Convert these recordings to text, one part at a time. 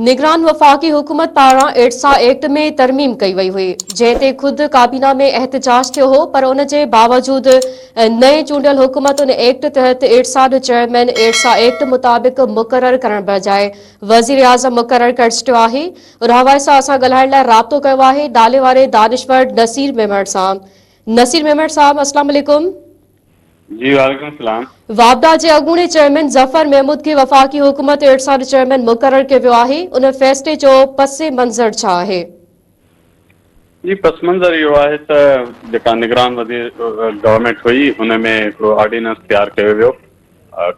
نگران وفاقي حڪومت پاران ايڊسا ايڪٽ ۾ ترميم ڪئي وئي هئي جنهن تي خود ڪابينا ۾ احتجاج ٿيو هو پر ان جي باوجود نئين چونڊيل حڪومت ان ايڪٽ تحت ايڊسا جو چيئرمين ايڊسا ايڪٽ مطابق مقرر ڪرڻ بجاء وزيراعظم مقرر ڪري ڇڏيو آهي رهوائي سان اسان ڳالهائڻ لاء رابطو ڪيو آهي ڊالي واري دانشور نصير ميمڻ سان نصير ميمڻ صاحب السلام عليڪم جي وعليڪم سلام. واپڊا جي اڳوڻي چيئرمين ظفر محمود کي وفاقي حڪومت ارسا جو چيئرمين مقرر ڪيو ويو آهي، ان فيصلي جو پس منظر ڇا آهي؟ جي پس منظر اهو آهي ته جيڪا نگران وزير گورنمينٽ هئي ان ۾ هڪڙو آرڊيننس تيار ڪيو ويو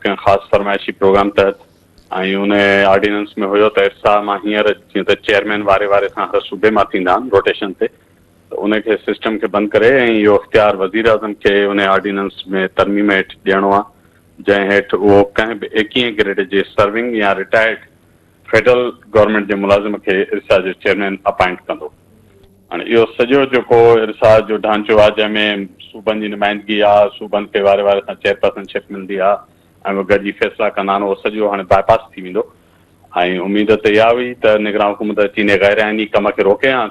ڪنهن خاص فرمائشي پروگرام تحت ۽ ان آرڊيننس ۾ هيو ته ارسا مان هينئر جيئن ته چيئرمين واري واري سان هر صوبي مان ٿيندا آهن روٽيشن تي ته ان کي سسٽم کي بند ڪري ۽ اهو اختيار وزيراعظم کي انهي آرڊيننس ۾ ترميم هيٺ ڏيڻو آهي جنهن هيٺ اهو ڪنهن به ايڪيهين گريڊ جي سرونگ يا رٽائرڊ فيڊرل گورنمينٽ جي ملازم کي ارسا جو چيئرمين اپائنٽ ڪندو. هاڻي اهو سڄو جيڪو ارسا جو ڍانچو آهي جنهن ۾ صوبن جي نمائندگي آهي، صوبن کي واري واري سان چيئرپرسن شپ ملندي آهي ۽ اهي گڏجي فيصلا ڪندا آهن اهو سڄو هاڻي باء پاس ٿي ويندو ۽ اميد ته اها هئي ته نگران حڪومت اچي انهي غيرآئيني ڪم کي روڪي ها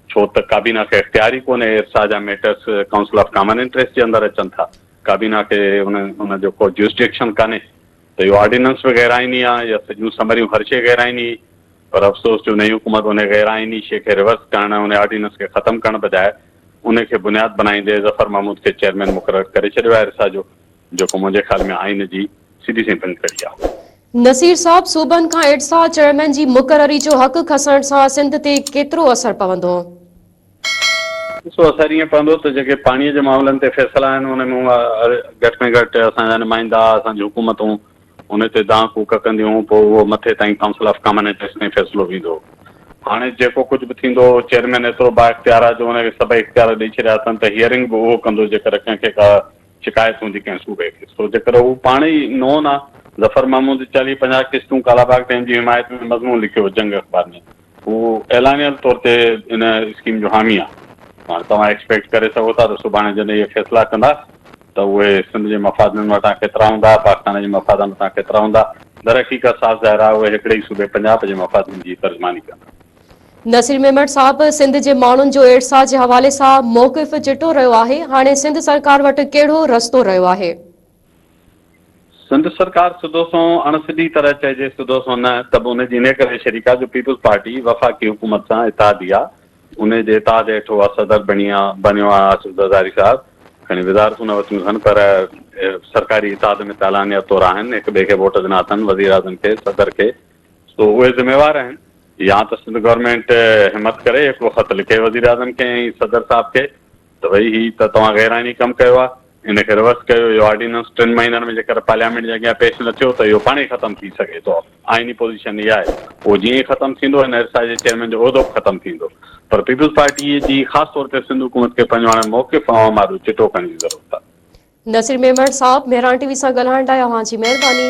ڇو ته ڪابينا کي اختيار ئي ڪونهي ارسا جا matters council of common interest جي اندر اچن ٿا ڪابينا کي ان ان جو ڪو جيوسڊيڪشن ڪانهي ته اهو آرڊيننس به غير آئيني آهي يا سڄيون سمريون هر شيء غير آئيني هئي پر افسوس جو نئين حڪومت ان غير آئيني شيء کي ريورس ڪرڻ ۽ ان آرڊيننس کي ختم ڪرڻ بجاء ان کي بنياد بنائيندي ظفر محمود کي چيئرمين مقرر ڪري ڇڏيو آهي ارسا جو جيڪو منهنجي خيال ۾ آئين جي سڌي سائين بند ڪري آ. نصير صاحب صوبن کان ايٽسا چيئرمين جي مقرري جو حق کسڻ سان سنڌ تي ڪيترو اثر پوندو؟ ڏسو اثر ائين پوندو ته جيڪي پاڻي جي معاملن تي فيصلا آهن ان ۾ گهٽ ۾ گهٽ اسان جا نمائندا اسان جون حڪومتون ان تي دانهن ڪوڪ ڪنديون پوء اهو مٿي تائين ڪائونسل آف ڪامن انٽريسٽ تائين فيصلو ويندو هاڻي جيڪو ڪجهه به ٿيندو چيئرمين ايترو با اختيار آهي جو ان کي سڀئي اختيار ڏئي ڇڏيا اٿن ته هيئرنگ به اهو ڪندو جيڪر ڪنهن کي ڪا شڪايت هوندي ڪنهن صوبي کي سو جيڪر هو پاڻ ئي نون آ ظفر محمود چاليهه پنجاهه قسطون ڪالا باغ ڊيم جي حمايت ۾ مضمون لکيو جنگ اخبار ۾ هو اعلانيل طور تي ان اسڪيم جو حامي آ هاڻ توهان ايڪسپيڪٽ ڪري سگهو ٿا ته سڀاڻي جڏهن اهي فيصلا ڪندا ته اهي سنڌ جي مفادن مٿان ڪيترا هوندا پاڪستان جي مفادن مٿان ڪيترا هوندا درحقيقت صاف ظاهر آ اهي هڪڙي ئي صوبي پنجاب جي مفادن جي ترجماني ڪندا. نصير ميمڻ صاحب سنڌ جي ماڻهن جو ايڙسا جي حوالي سان موقف چٽو رهيو آهي هاڻي سنڌ سرڪار وٽ ڪهڙو رستو رهيو آهي؟ سنڌ سرڪار سڌو سنئون اڻ سڌي طرح چئجي سڌو سنئون نه ته به ان جي انهي ڪري شريڪ آهي جو پيپلز پارٽي وفاقي حڪومت سان اتحادي آهي انهي جي اتحاد هيٺ هو صدر بڻي بڻيو آهي آصف زرداري صاحب کڻي وزارتون نه ورتيون اٿن پر سرڪاري اتحاد ۾ ته علانيه طور آهن هڪ ٻئي کي ووٽ ڏنا اٿن وزيراعظم کي صدر کي سو اهي ذميوار آهن. يا ته سنڌ گورنمينٽ همت ڪري هڪڙو خط لکي وزيراعظم کي ۽ صدر صاحب کي ته ڀئي هي ته توهان غير آئيني ڪم ڪيو آهي ان کي روس ڪيو اهو آرڊيننس ٽن مهينن ۾ جيڪر پارليامينٽ جي اڳيان پيش نه ٿيو ته اهو پاڻهي ختم ٿي سگهي ٿو آئيني پوزيشن هي آهي اهو جيئن ئي ختم ٿيندو هن ارسا جي چيئرمين جو عهدو به ختم ٿيندو پر پيپلز پارٽي جي خاص طور تي سنڌ حڪومت کي پنهنجو هاڻي موقف عوام آڏو چٽو ڪرڻ جي ضرورت آهي. نصير ميمڻ صاحب مهراڻ ٽي وي سان ڳالهائڻ لاء اوهان جي مهرباني.